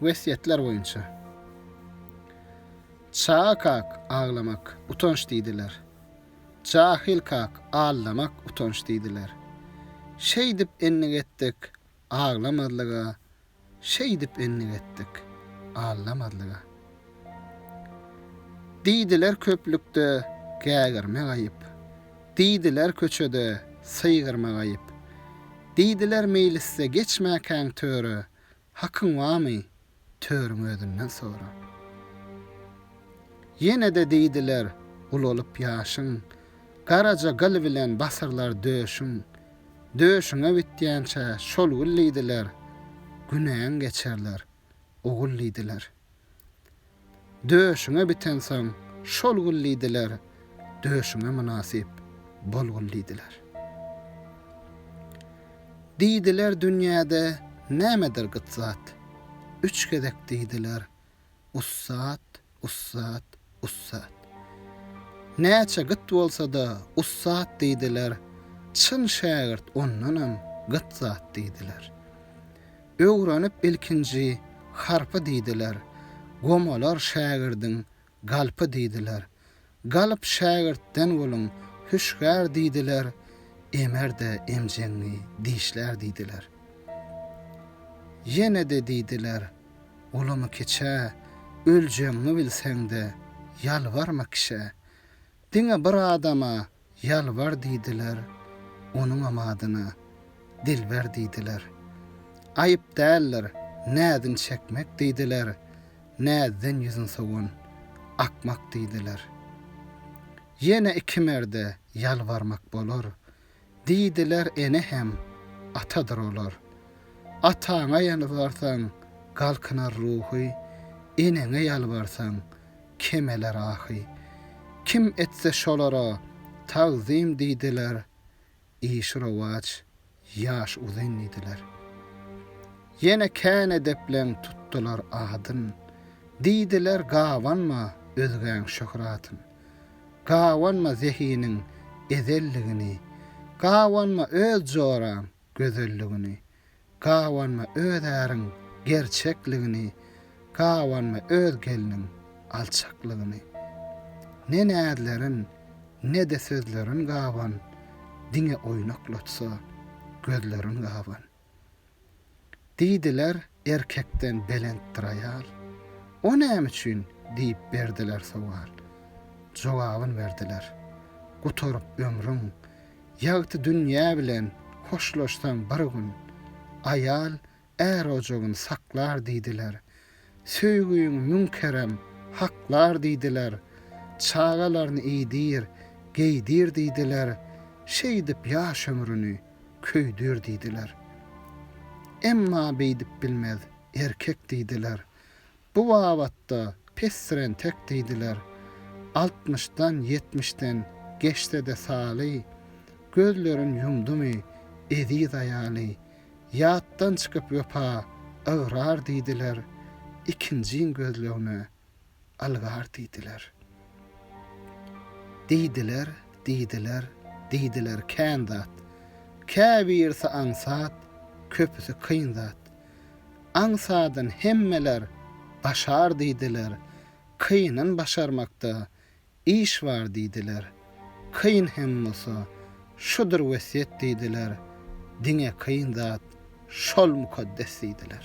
Wesýetler boýunça. Çaga kak, aglamak, utanç diýdiler. Jahyl kak, aldamak, utanç diýdiler. Şeýdip endik etdik, aglamazlyga, Şeýdip endik etdik, allamazlyga. Diýdiler köplükde gägirmek aýyp, Diýdiler köçede sygyrmak aýyp. Diýdiler meýlisde geçmäkäň töre, Hakyň bamy, törüň özünden sora. Ýene-de diýdiler ulalyp ýaşyň, Garaja gyl bilen basyrlar döşüň. Döşüňe bitýänçä şol gül diýdiler, Günäň geçerler, ogul diýdiler. Döşüňe bitensoň, şol gül diýdiler, Döşüňe mynasyp, bol gül diýdiler. Diýdiler dünýäde nämedir gyt zat, Üç gezek diýdiler, Ussat, ussat, Ussat. Näçe gyt bolsa-da ussat diýdiler, çyn şägirt ondanam gyt zat diýdiler. Öwrenip ilkinji harpy diýdiler, gomalar şägirdiň galpy diýdiler. Galp şägirtden bolun hüşgär diýdiler, emer-de emjeňňi dişlär diýdiler. Ýene-de diýdiler, Ulamy kiçä, öljegiňi bilseň-de, ýalbarma kişä. Diňe bir adama ýalbar diýdiler, onuňam adyna Dilber diýdiler. Aýyp däldir, näzini çekmek diýdiler, näzden ýüzin sowan akmak diýdiler. Ýene iki merde ýalbarmak bolar, Diýdiler ene hem atadyr olar. Ataňa ýalbarsaň galkynar ruhy, eneňe ýalbarsaň kemeler ahy. Kim etse şolara tagzym diýdiler, işi rowaç, ýaş uzyn diýdiler. Ýene kän edepleň tutdular adyn, diýdiler gabanma özgäň şöhratyn. Gabanma zehiniň ezelligini, Gabanma öz joraň gözelligini, Gabanma öz äriň gerçekligini, Gabanma öz gelniň alçaklygyny. Ne näzlerin, ne-de sözlerin gaban, Diňe oýnaklatsa gözlerin gaban. Diýdiler, Erkekden belentdir aýal. O näme üçin? diýip berdiler sowal. Jogabyn berdiler, Gutaryp ömrüň, ýagty dünýä bilen hoşlaşsaň bir gün, aýal är ojagyn saklar diýdiler, Söýgiň müň kerem haklar diýdiler, Çagalaryny iýdir, geýdir diýdiler, Şeýdip ýaş ömrüni köýdür diýdiler. Emma beýdip bilmez erkek diýdiler, Bu babatda pesrentek diýdiler. Altmyşdan, ýetmişden geçse-de saly, Gözlerin ýumdumy eziz aýaly, Ýatdan çykyp wepa ygrar diýdiler, Ikinjiň gözlegine algar diýdiler. Diýdiler, diýdiler, diýdiler kän zat, Käbirisi aňsat, köpüsi kyn zat. Aňsadyn hemmeler başar diýdiler, Kynyn başarmakda Iş bar diýdiler. Kyn hem bolsa, şudur wesýet diýdiler, Diňe kyn zat şol mukaddes diýdiler.